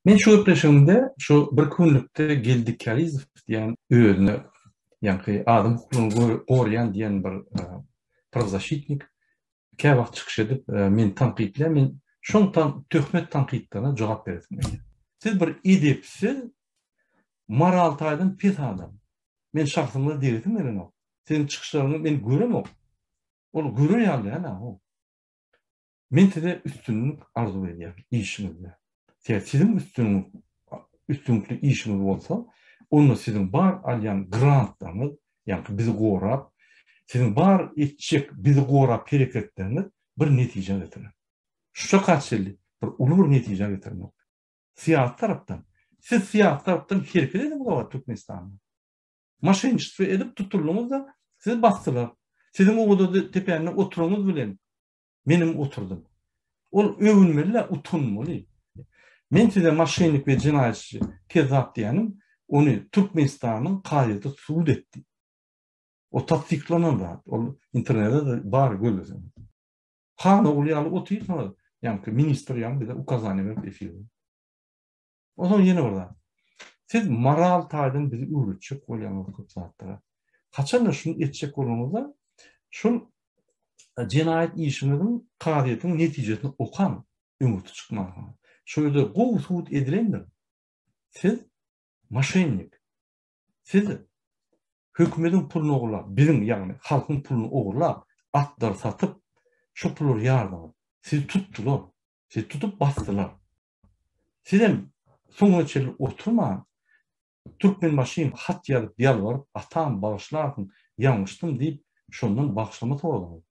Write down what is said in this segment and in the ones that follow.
Men şu gepleşigimde şu bir günlükde Geldi Karizow diýen özüne ýaňky adam hukuklaryny goraýan diýen bir e, prawzaşitnik kä wagt çykyş edip e, men tankytlaýar men şoň tam töhmet tankytlaryna jogap beresim gelýär. Siz bir edepsiz moral taýdan pes adam. Men şahsymda diýesim gelenok. Siziň çykyşlaryňy men göremok. Ol görer ýaly ýa-da o. Men size üstünlik arzuw edýän işiňizde. Tä siziň üstün üstünlikli işiňiz bolsa, onda siziň bar alýan grantlaryňyz, ýagny bizi gorap, siziň bar etjek bizi gorap hereketleriňiz bir netijä getirer. Şuşa ka çenli bir uly bir netijä getirmek. Syýasy tarapdan, siz syýasy tarapdan hereket ediň wagt Türkmenistanda. Maşenniçtwo edip tutuldyňyz-da, sizi basdylar. Siziň o wada tepände oturyňyz bilen Menem oturdym. Ol öwünmeli-de, utanmaly. Men size moşennik we jenaýatçy, kezzap diýenim, ony Türkmenistanyň kazyýeti subut etdi. O tassyklanan zat, ol internetde-de bar, gözleseňiz. Hanogul ýaly otyrsyňyz, ýaňky ministr ýaňy bize ukazaniýa berip efirde. Onsoň ýene bir zat. Siz moral taýdan bizi öwretjek bolýaňyz köp zatlara. Haçanda şuny etjek bolanyňyzda, şol jenaýat işiňiziň kazyýetiň netijesini okaň, öňürti çykmaň. Şol ýerde gowy subut edilendir. Siz maşennik. Siz hökümetiň puluny ogurlap, biziň, ýagny halkyň puluny ogurlap, atlar satyp, şu pullar ýardyňyz. Siz tutdular. Siz tutup basdylar. Sizem soňuna çenli oturman, Türkmenbaşym hat ýazyp ýalbaryp, Atam, bagyşlarsyň, ýalňyşdym diýip, şondan bagyşlama soradyňyz.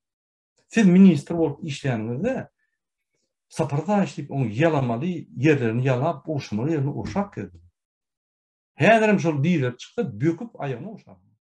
Siz ministr bolup işlänizde Sapar Daýyş diýip oň ýalamaly ýerlerini ýalap, uruşmaly ýerini urşap gezdiňiz. Häzirem şol dizler çyksa, böküp aýagyny urşaň.